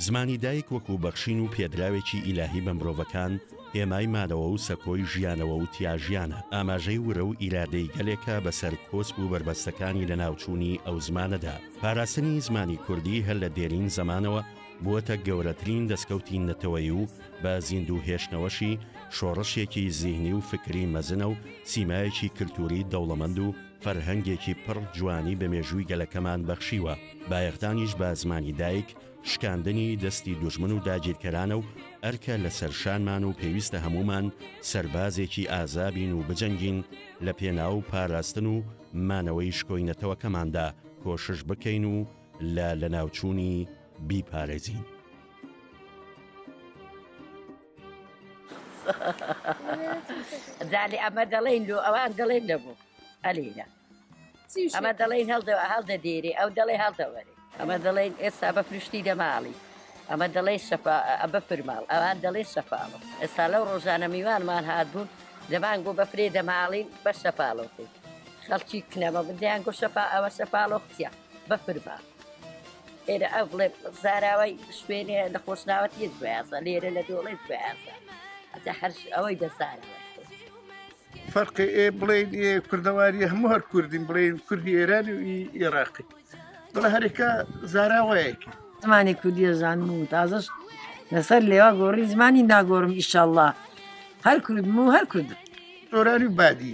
زمانی دایک وەکو بەخشین و پێدراوێکی ئیلاهی بە مرۆڤەکان هێمای مانەوە و سەکۆی ژیانەوە و تیاژیانە ئاماژەی ورە و ئیرادەی گەلێکە بەسەر کۆسپ و بەربەستەکانی لە ناوچوونی ئەو زمانەدا پاراستنی زمانی کوردی هەر لە دێرین زمانەوە بووەتە گەورەترین دەسکەوتی نەتەوەیی و بە زیندوو هێشتنەوەشی شۆڕشێکی زیهنی و فکری مەزنە و سیمایەکی کلتووری دەوڵەمەند و فەرهەنگێکی پڕ جوانی بە مێژووی گەلەکەمان بەخشیوە، بایەخدانیش بە زمانی دایک شکاندنی دەستی دوژمن و داگیرکەرانە و ئەرکە لەسەر شانمان و پێویستە هەموومان سەربازێکی ئازا بین و بجەنگین لە پێناو پاراستن و مانەوەی شکۆی نەتەوەکەماندا کۆشش بکەین و لە لەناوچوونی بیپارێزین. زانێ ئەمە دەڵێن لۆ ئەوان دەڵێن نەبوو ئەلینا ئەمە دەڵێن هەڵدە هەڵدە دێری ئەو دەڵێ هەڵدەوەێ ئەمە دەڵێن ئێستا بە پرشتی دەماڵی ئەمە دەڵێ شەفا ئەبە فرماڵ ئەوان دەڵێ شەفاڵە ئێستا لەو ڕۆژانە میوانمان هاتبوون دەمان گۆ بە فرێ دەماڵین بە شەفاڵۆکەی خەڵکی کنەمە بدەیان گۆ شەفا ئەوە شەفاڵۆ قسیە بەفرمە ئێرە ئەو بڵێ زاراوای شوێنێ لە خۆشناوەت یەک بەیازە لێرە لە دۆڵێت بەیازە ئەجا هەر ئەوەی دەزارەوە فەرقی ئێ بڵێن ئێ کوردەواری هەموو هەر کوردین بڵێن کوردی ئێران و ئێراقی بڵە هەرێکە زاراوەیەکی زمانی کوردیە زانم و تازەش لەسەر لێوا گۆڕی زمانی ناگۆڕم ئیشەله هەر کورد و هەر کورد زۆرانی بادی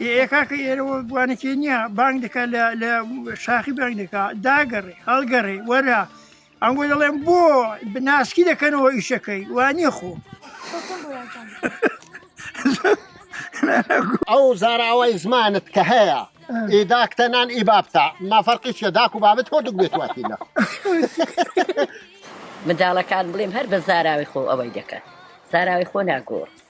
ئێ ئێ کاکە ئێرە وە بوانەکێ نییە بانگ دەکات لە لە شاخی بانگ دەکات داگەڕێ هەڵگەڕێ وەرە ئەم بۆ دەڵێن بۆ بناسکی دەکەنەوە ئیشەکەی وانە خۆ ئەو زاراوای زمانت کە هەیە ئیداکتە نان ئی بابتە مافەرقی چیە داک و بابت هۆدوک بێت واتیلە منداڵەکان بڵێم هەر بە زاراوی خۆ ئەوەی دەکەن زاراوی خۆ ناگۆڕ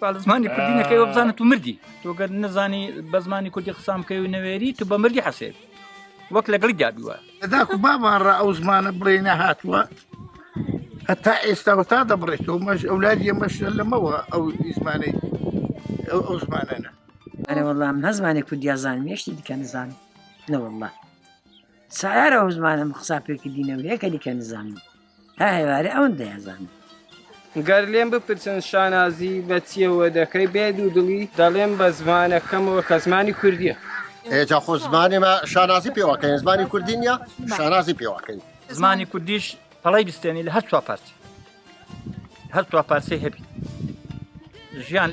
بە زمانی کوردی نەکەی وە بزانە تو مردی تۆگەر نەزانی بە زمانی کوردی قسان بکەی و نەوێری تو بە مردی حەسێت وەک لەگەڵی دابیوە داکو بابان ڕ ئەو زمانە بڵێ نەهاتووە هەتا ئێستا و تا دەبڕێتەوە مەش ئەولادیە مەش لەمەوە ئەو زمانەی ئەو زمانەنە ئەرە وەڵام نەزمانێ کوردیا زان مێشتی دیکە نزان نەوەڵە سارە ئەو زمانە مخسا پێکردینەوە یەکە دیکە نزانم هە هەیوارێ ئەوەن دەیانزانم. گەر لێم بپرسن شانازی بە چیەوە دەکەی بێ دوو دڵی دەڵێم بە زمانەکەمەوە کە زمانی کوردیە ئێجا خۆ زمانێمە شانازی پێوەکەین زمانی کوردی نیە شانازی پێوەکەین زمانی کوردیش پەڵی بستێنی لە هەر چوار پارچە هەر چوار پارچەی هەبی ژیان